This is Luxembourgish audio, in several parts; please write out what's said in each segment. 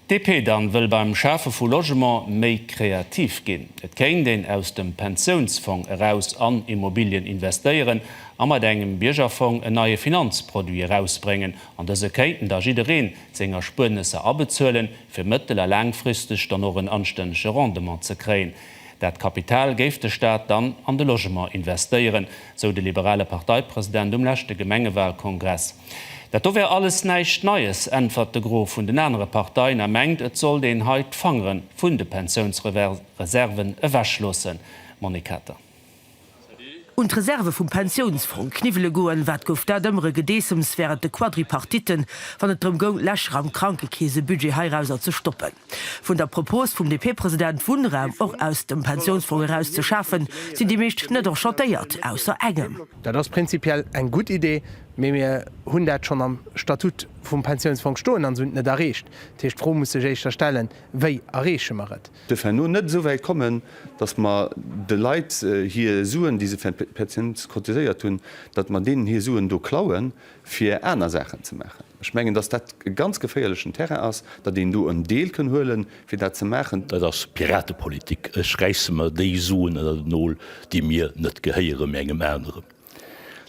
DP dann wëll beim Schafe vu Logement méi kreativ ginn. Et kéint een aus dem Pensiounsfong eraus an Immobilien investéieren a mat engem Biergerfong en neie Finanzproduit erausbréngen. An dëse kéinten da jiddereen seng Erspuernesser abezuelen, fir mëttel a laangfristeg dann och en anstännege Rendement ze kréien. Dat Kapital géif de Staat dann an de Logement investéieren, sou de liberale Parteipresident um leschte Gemengewahlkongress. Dat do wär alles näischt Neies, äntwert de Gros vun den anere Parteien a mengt, et sollt een hei d'Fangere vun de Pensiounsreserven ewech loossen. Monique Kater. Un d'Reserve vum Pensiounsfong kniwwele goen, wat gouf dat ëmmer e Gedeessems wärend de Quadripartitten, wann et drëm goung, Lächer am Krankekeesebudget heirauser ze stoppen. Vun der Propos vum DP-President, Wunnraum och aus dem Pensiounsfong eraus ze schafen, sinn déi meescht net enchantéiert, ausser engem. Dat ass prinzipiell eng gutt Idee, mee mir hunn dat schonn am Statut vum Pensiounsfong stoen an se hunn et net erreecht. Dat heescht, d'Fro muss sech éischter stellen, Wéi erreeche mer et? Duerf herno net esou wäit kommen, datt mer de Leit hir Suen, déi se fir d'Pensioun cotiséiert hunn, datt mer deenen hir Suen do klauen, fir aner Saachen ze maachen. Ech mengen, datt dat e ganz geféierlechen Terrain ass, datt een do en Deel kënn huelen, fir dat ze maachen. Dat ass Piratepolitik. Ech räisse mer déi Suen ënner den Nol, déi mir net gehéieren, mee engem aneren.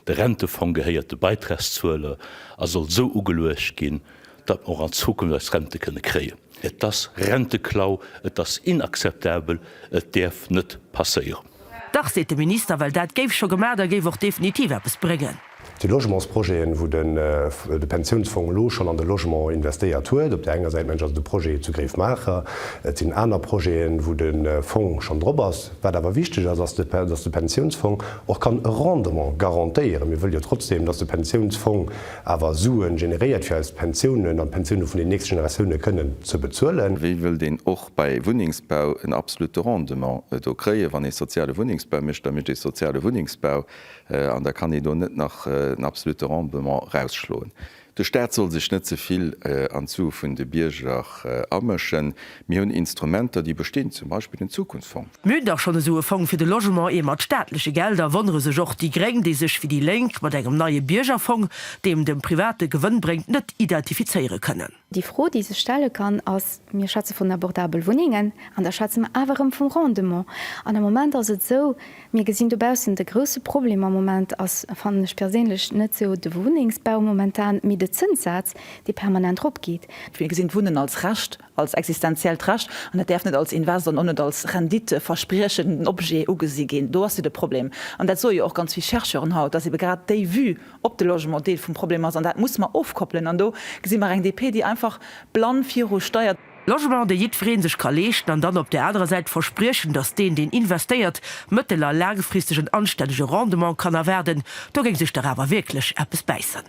De Rentefong gehéiert de Beitragszueler a soll esou ugeluecht ginn, datt mer och an Zukunft eis Rente kënne kréien. Et ass Renteklau, et ass inakzeptabel, et däerf net passéieren. Dach, seet de Minister, well dat géif scho gemaach a géif och definitiv eppes bréngen. Déi Logementsprojeten, wou de Pensiounsfong elo schonn an de Logement investéiert huet, op där enger Säit mengen ech ass et de Projet zu Greefmacher, et sinn aner Projeten, wou de Fong schonn drop ass. Wat awer wichteg ass, ass, datt de Pensiounsfong och kann e Rendement garantéieren. Mir wëlle jo trotzdeem, datt de Pensiounsfong awer Suen generéiert fir eis Pensiounen an d'Pensioune vun den nächste Generatioune kënnen ze bezuelen. Wéi wëllt een och bei Wunnengsbau en absolute Rendement do kréien? Wann ee soziale Wunnengsbau mécht, da mécht ee soziale Wunnengsbau an da kann ee do net nach en absolute Rendement erausschloen. De Staat soll sech net ze vill an d'Sue vun de Bierger amëschen. Mir hunn Instrumenter déi bestinn, zum Beispill den Zukunftsfong. Mir hunn dach schonn esou e Fong fir de Logement, ee mat staatleche Gelder, wonnere sech och déi Gréng, déi sech wéi déi Lénk mat engem neie Biergerfong, deem dem Private Gewënn bréngt, net identifizéiere kënnen. Déi Fro, déi sech stelle kann, ass, Mir schwätze vun abordabel Wunnengen, an da schwätze mer awer erëm vum Rendement. An am Moment ass et esou, mir gesinn dobaussen, de grousse Problem am Moment ass, fannen ech perséinlech, net esou de Wunnengsbau momentan, mee de Zënssaz, dee permanent eropgeet. Mir gesinn d'Wunnen als Recht, als existenziellt Recht, an dat däerf net als Invest an och net als Rendite verspriechenden Objet ugesi ginn. Do ass jo de Problem, an dat soe jo och ganz vill Chercheuren haut, dass ebe grad déi Vue op de Logement Deel vum Problem ass, an dat musse mer ofkoppelen. An do gesi mer eng DP, déi einfach blann viru steiert. Logement, dee jiddweree sech ka leeschten, an dann op där anerer Säit verspriechen, dass deen, deen investéiert, mëttel a laangfristeg en anstännege Rendement kann erwaarden, do géing sech dach awer wierklech eppes bäissen.